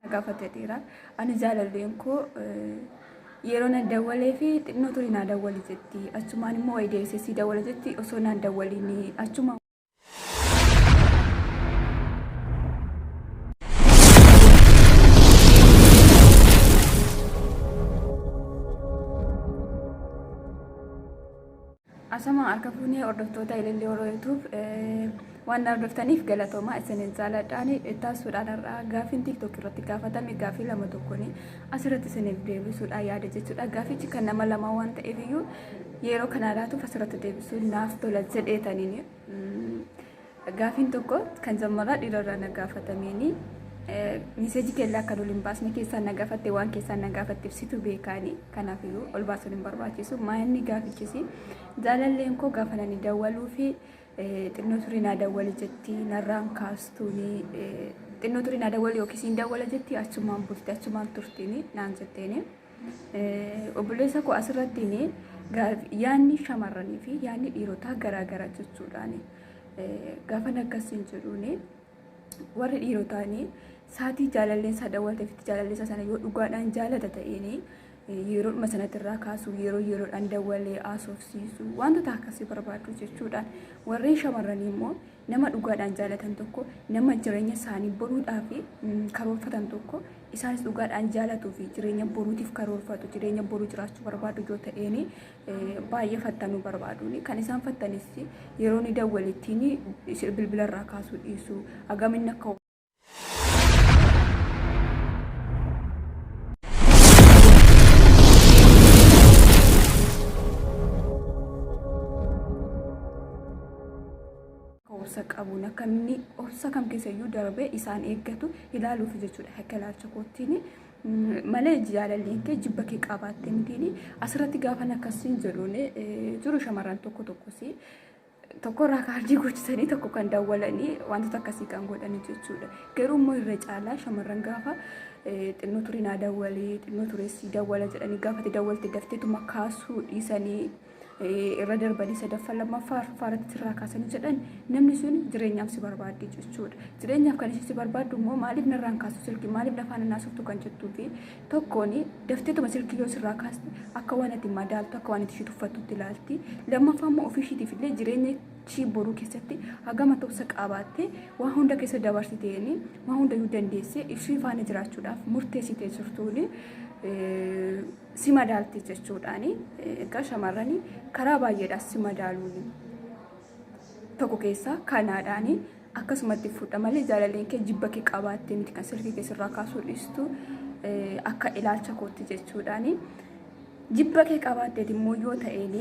na gaafate dhiira ani jaalalleen koo yeroo na dawwalee fi xinnoo ture naa dawwali jetti achumaan immoo wayi deebisee sii dawwala jetti osoo naan dawwaliin achuma Ashamaa harka fuunee hordoftoota Ilillii Horoo YouTube waan hordoftaniif galatoomaa isiniin jaaladhaan ittaasuudhaan har'aa gaafiin TikTok irratti gaafatame gaafii lama tokkoon asirratti isiniif deebisuudha yaada jechuudha. Gaafichi kan nama lama waan ta'eef iyyuu yeroo kana laatuuf asirratti deebisuun naaf tola jedheetaniin Gaafiin tokko kan zammaraa dhiirarraa na gaafatameeni miseejii keellaa kan ol hin baasne keessaan na gaafatte waan keessaan na gaafatteef situ beekaani kanaaf iyyuu ol baasuun hin barbaachisu maayinni gaafichisi jaalalleen koo gaafa nani dawwaluu fi xinnoo turii naa dawwali jetti narraan kaastuuni xinnoo turii naa dawwali yookiis hin dawwala jetti achumaan bulti achumaan turtiini naan jetteeni. Obboleessa koo asirratti yaadni shamarranii fi yaadni dhiirotaa garaagara jechuudhaan gaafa akkasiin jedhuun warri dhiirotaan saatii jaalalleen isaa dawwalteef itti jaalallee isaa sana yoo dhugaadhaan jaalata ta'een yeroodhuma sanatti irraa kaasuu yeroo yeroodhaan dawwalee haasofsiisuu wantoota akkasii barbaadu jechuudhaan warri shamarranii immoo Nama dhugaadhaan jaalatan tokko, nama jireenya isaanii boruudhaaf karoorfatan tokko, isaanis dhugaadhaan jaalatuu fi jireenya boruutiif karoorfatu, jireenya boruu jiraachuu barbaadu yoo ta'een baay'ee fattanuu barbaadu. Kan isaan fattanis yeroo ni dawwalittiin bilbila irraa kaasuu dhiisu, hagam inni akka obsa qabuun akka inni obsa kam keessayyuu darbee isaan eeggatu ilaaluuf jechuudha akka ilaalcha koottiin malee jaalalli kee jibba kee qabaattee mitiin asirratti gaafan akkasiin jedhuun jiru shamarran tokko tokkos tokkorraa kaardii goochisanii tokko kan dawwalanii wantoota akkasii kan godhanii jechuudha. Garuu immoo irra caalaa shamarran gaafa xinnoo turii naa dawwalee xinnoo tureessii dawwala jedhanii gaafa itti dawwalte dafteetuma kaasuu dhiisanii irra darbanii sadaffaa lammaffaa arfaffaa irratti irraa kaasanii jedhan namni sun jireenyaaf si barbaaddi jechuudha. Jireenyaaf kan ishee si barbaaddu immoo maaliif narraan kaasu silkii maaliif lafaan naasoftu kan jettuu fi tokkoon dafteetuma silkii yoo sirraa kaaste akka waan ati madaaltu akka waan ati ishii tuffattutti ilaalti lammaffaa immoo ofii ishiitiif illee jireenya ishii boruu keessatti hagama tobsa qaabaattee waan hunda keessa dabarsitee waan hunda iyyuu dandeessee ishii faana jiraachuudhaaf murteessitee jirtuun si madaalti jechuudhaan egaa shamarranii karaa baay'eedhaas si madaaluun tokko keessaa kanaadhaan akkasumatti fudha malee jaalalleen kee jibba kee qabaattee miti kan silkii kee sirraa kaasuu dhiistu akka ilaalcha kootti jechuudhaan jibba kee qabaatteeti immoo yoo ta'een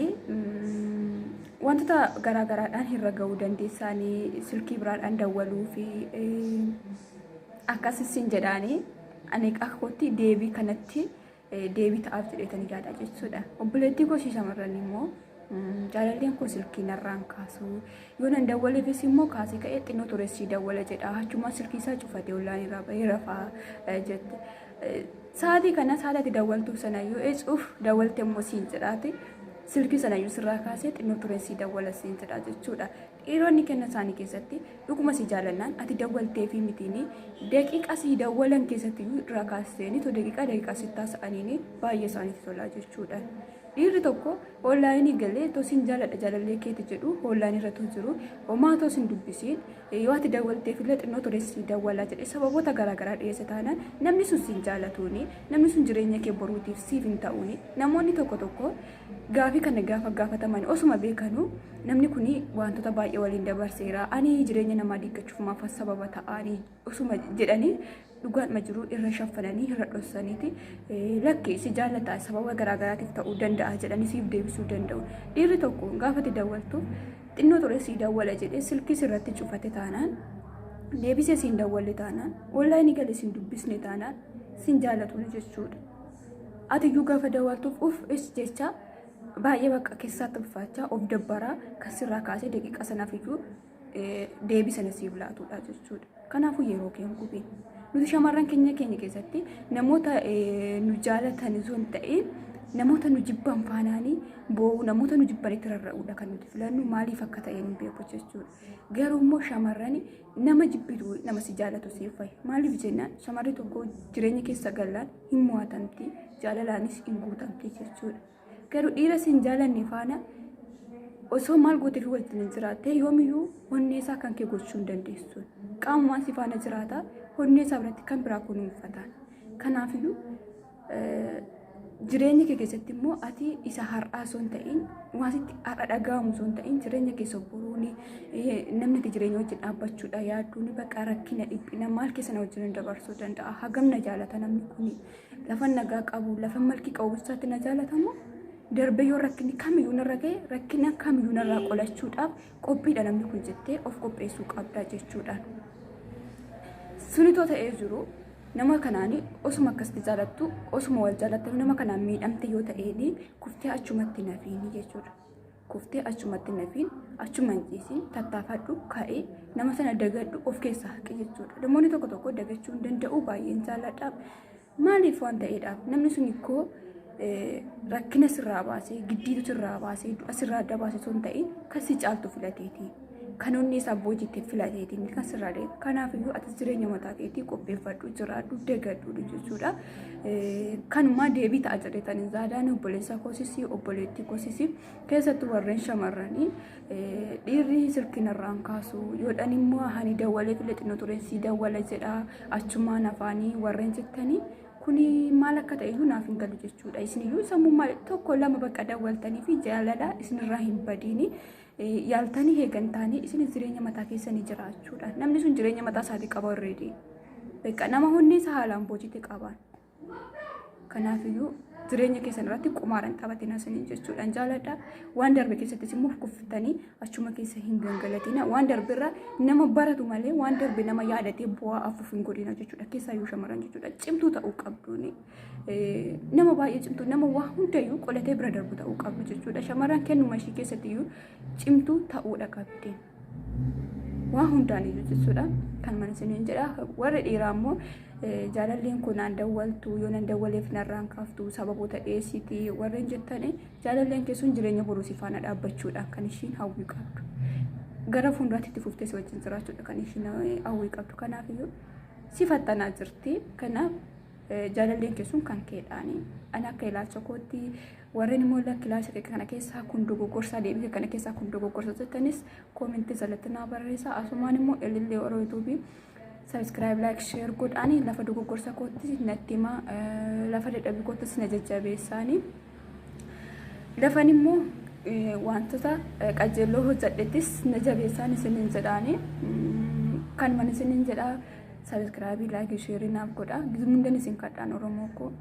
wantoota garaa garaadhaan hirra ga'uu dandeessaanii silkii biraadhaan dawwaluu fi akkasisiin jedhaanii ani akka kootti deebii kanatti deebii ta'aaf jedheetanii yaada jechuudha. Obboleettii koo ishee shamarran immoo jaalalleen koo silkii narraan kaasuu yoo nan dawwaleefis immoo kaasee ka'ee xinnoo turessii dawwala jedha achumaa silkii isaa cufatee ollaan irraa bahee rafaa jette. Sa'aatii kana sa'aatii dawwaltuu sana yoo eecuuf dawwalte immoo siin jedhaate silkii sana yoo sirraa kaasee xinnoo turessii dawwala siin jedha jechuudha. Dhiironni kenna isaanii keessatti dhuguma si jaalannaan ati dawwalteefii mitiini daqiiqa sii dawwalan keessatti iyyuu irraa kaasteenii to daqiiqaa daqiiqaa sittaa sa'aniini baay'ee isaanitti tolaa jechuudha. Dhiirri tokko oonlaayinii galee to sin jaaladha jaalallee keeti jedhu oonlaayinii irra to jiru homaa to sin dubbisiin yoo ati dawwalteef illee xinnoo ture sii dawwalaa jedhe sababoota garaagaraa dhiyeessa taanaan namni sun sin jaalatuuni namni sun jireenya kee boruutiif siif hin ta'uuni namoonni tokko tokko Gaafii kana gaafa gaafataman osuma beekanu namni kun wantoota baay'ee waliin dabarseera ani jireenya namaa diiggachuuf maaf sababa ta'aani osuma jedhanii dhugaadhuma jiru irra shaffananii irra dhossaniiti lakkee si jaallataa sababa garaagaraatiif ta'uu danda'a jedhanii siif deebisuu danda'u. Dhiirri tokko gaafati dawwaltu xinnoo ture sii dawwala jedhee silkiis irratti cufate taanaan deebisee siin dawwalle taanaan onlaayinii galee siin dubbisne taanaan siin jaallatu jechuudha. Ati iyyuu gaafa daawwattuuf uf is jecha baay'ee bakka keessaatti ulfaachaa of dabbaraa kan sirraa kaasee daqiiqa sanaaf iyyuu deebii sana siif laatudha jechuudha. Kanaafuu yeroo kee hin gubiin. Nuti shamarran keenya keenya keessatti namoota nu jaalatan osoo hin ta'in namoota nu jibban faanaanii boo'u namoota nu jibban itti rarra'uudha kan nuti filannu maaliif akka ta'e hin beeku jechuudha. Garuu immoo shamarran Nama jibbitu nama si jaalatu siif fayi. Maaliif jennaan shamarri tokko jireenya keessa gallaan hin mo'atamti jaalalaanis hin guutamti jechuudha. Garuu dhiira sin jaalanne faana osoo maal gootee fi wajjin jiraattee yoomiyyuu onnee isaa kan kee gochuu hin dandeessu. Qaamumaan si faana jiraata onnee isaa biratti kan biraa kunuunfataan. Kanaafiyyuu jireenya kee keessatti immoo ati isa har'aa osoo hin ta'in waanti har'a dhaga'amu osoo hin ta'in jireenya keessa buruuni namni ati jireenya wajjin dhaabbachuudha yaaduun bakka rakkina dhiphina maal keessa na wajjin dabarsuu danda'a hagam na jaalata namni kun lafa nagaa qabu lafa malki qabu isaatti na jaalatamu darbee yoo rakkinni kamiyyuu narra ga'e rakkina kamiyyuu narraa qolachuudhaaf qophiidha namni kun jettee of qopheessuu qabda jechuudha. Sunitoo ta'ee jiru nama kanaan osuma akkasitti jaalattu osuma wal jaalattu nama kanaan miidhamte yoo ta'een kuftee achumatti nafiin jechuudha. Kuftee achumatti nafiin achuma hin ciisiin tattaafadhu ka'ee nama sana dagadhu of keessaa haqi jechuudha. Namoonni tokko tokko dagachuu hin danda'u baay'een jaalladha. Maaliif waan ta'eedhaaf namni sun koo rakkina sirraa baasee giddiitu sirraa baasee du'a sirraa adda baase osoo hin ta'in kan si caaltu filateeti. Kan onni isaa boojiitti filateeti inni kan sirraa deemu. Kanaaf iyyuu atis jireenya mataa keetii qopheeffadhu jiraadhu deegadhu jechuudha. Kanumaa deebii ta'a jedhetan zaadaan obboleessa koosisii obboleettii koosisii keessattuu warreen shamarranii dhiirri sirkinarraan kaasu yoodhan immoo hani dawwalee filee xinnoo tureen si dawwala jedha achumaan afaanii warreen jettanii kuni maal akka ta'e iyyuu naaf hin galu jechuudha. Isin iyyuu sammummaa tokko lama bakka dawwaltanii fi jaalala isinirraa hin badiini yaaltanii eegantaanii isin jireenya mataa keessanii jiraachuudha. Namni sun jireenya mataa isaatii qaba already. Bakka nama hundi isa haalaan boojite qabaan. Kanaaf iyyuu jireenya keessan irratti qumaaran taphatina isiniin jechuudhaan jaaladha. Waan darbe keessattis immoo kuftanii achuma keessa hin gangalatina waan darbe irraa nama baratu malee waan darbe nama yaadatee bu'aa afuuf hin godhina jechuudha keessaa yoo shamarran jechuudha cimtuu ta'uu qabduuni nama baay'ee cimtuu nama waa hundayyuu qolatee bira darbu ta'uu qabdu jechuudha shamarran kennuma ishii keessatti iyyuu cimtuu ta'uudha qabdi waa hundaan iyyuu jechuudha kan mana isiniin jedha warri dhiiraa immoo jaalalleen kun aan dawwaltu yoo nan dawwaleef narraan kaaftu sababoota dhiyeessiiti warreen jettanii Jaalalleen kee sun jireenya boruu si faana dhaabbachuudha kan ishiin hawwii qabdu. Gara fuulduraatti itti fuftee si wajjin jiraachuudha kan ishiin hawwii qabdu. Kanaaf iyyuu si fattanaa jirti. Kanaaf jaalalleen kee sun kan keedhaani. Ani akka ilaalcha kootti warreen immoo lakki ilaalcha kee kana keessaa kun dogoggorsaa deebii kee kana keessaa kun dogoggorsa jettanis koomentii jalatti naa barreessaa. Asumaan immoo ilillee warra yuutuubii Sabiskiraayib laayik sheer godhaani lafa dogoggorsa kootti natti himaa lafa dadhabbii koottis na jajjabeessaani. Lafan immoo wantoota qajeelloo hojjedhettis na jabeessaan isiniin jedhaani. Kan mana isiniin jedhaa sabiskiraabii laayikii sheerii naaf godhaa. Gizumni isin kadhaan Oromoo koo.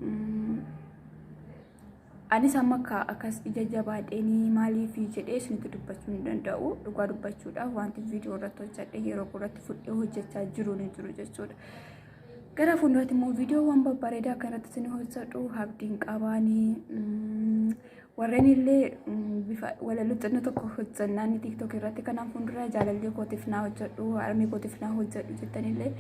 Anis amma akka akkas ija jabaadheenii maaliif jedhee isinitti dubbachuu hin danda'u. Dhugaa dubbachuudhaaf wanti viidiyoo irratti hojjedhe yeroo irratti fudhee hojjechaa jiru ni jiru jechuudha. Gara fuulduraatti immoo viidiyoowwan babbareedaa akka irratti isin hojjedhu abdiin qabaanii warreen illee bifa walaloo xinnoo tokko hojjennaan tiiktook irratti kanaan fuuldura jaalallee kootiif naa hojjedhu harmee kootiif naa hojjedhu jettanillee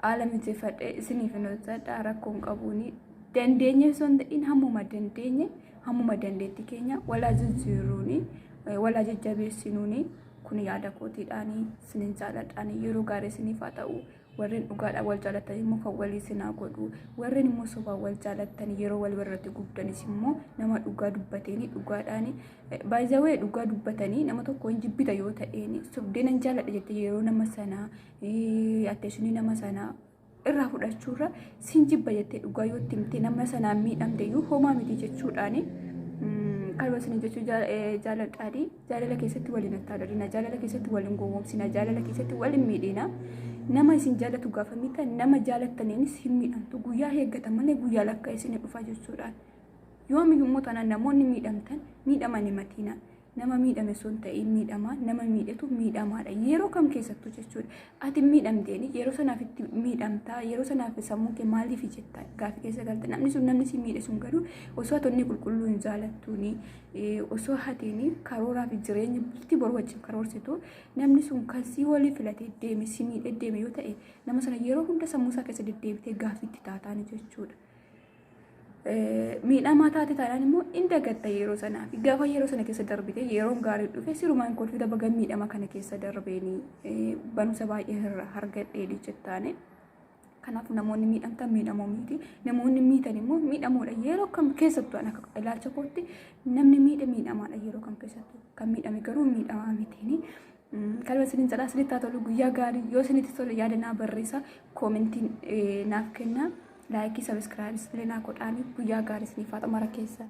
haala mijeeffadhe isiniif hin hojjedha rakkoon qabuuni. dandeenye osoo hin ta'in hammuma dandeenye hammuma dandeetti keenya walaa jijjiiruuni walaa jajjabeessinuuni kun yaada kootiidhaani sinin jaaladhaani yeroo gaarii isiniif haa ta'u warreen dhugaadhaan wal jaalatan immoo kan walii isin haa godhu warreen immoo sobaan wal jaalatan yeroo wal irratti gubdanis immoo nama dhugaa dubbateeni dhugaadhaani baay'ee dhugaa dubbatanii nama tokko hin jibbita yoo ta'een sobdeen hin jaaladha jettee yeroo nama sanaa atteessinii nama sanaa irraa fudhachuurra sin jibba jettee dhugaa yoo itti himte nama sanaan miidhamte iyyuu homaa miti jechuudhaani. Kanuma isin jechuu jaaladhaadhi. Jaalala keessatti waliin attaadhalina. Jaalala keessatti waliin gowwoomsina. Jaalala keessatti waliin miidhina. Nama isin jaalatu gaafa miidhan nama jaalattaniinis hin miidhamtu. Guyyaa eeggatan malee guyyaa lakkaa isin dhufa jechuudhaan. Yoomiyyuu immoo taanaan namoonni miidhamtan miidhamanii matiina. nama miidhame osoo hin ta'iin miidhamaa nama miidhetu miidhamaadha yeroo kam keessattuu jechuudha ati miidhamteen yeroo sanaaf itti miidhamtaa yeroo sanaaf sammuu kee maaliif jetta gaaffii keessa galta namni sun namni si miidhe sun garuu osoo hatonni qulqulluu hin jaalattuuni osoo hatiin karooraa fi jireenya bultii boru wajjin karoorsitu namni sun kan si walii filatee deeme si miidhe deeme yoo ta'e nama sana yeroo hunda sammuu isaa keessa deddeebitee gaaffiitti taataani jechuudha. miidhamaa taate taanaan immoo in dagatta yeroo sanaa fi gaafa yeroo sana keessa darbite yeroon gaarii dhufe sirumaan kolfita baga miidhama kana keessa darbeeni barumsa baay'ee irra hargadhee jettaane. Kanaaf namoonni miidhamtan miidhamoo miti namoonni miidhan immoo miidhamoodha yeroo kam keessattuu an akka ilaalcha kootti namni miidhe miidhamaadha yeroo kam keessattuu kan miidhame garuu miidhamaa mitiini. Kalba isiniin jedhaa isinitti haa tolu guyyaa gaarii yoo isinitti tole yaada naa barreessa koomentiin naaf kenna laayikii sabiskiraayibis illee naa godhaanii guyyaa gaarii isiniif haa ta'u mara keessa.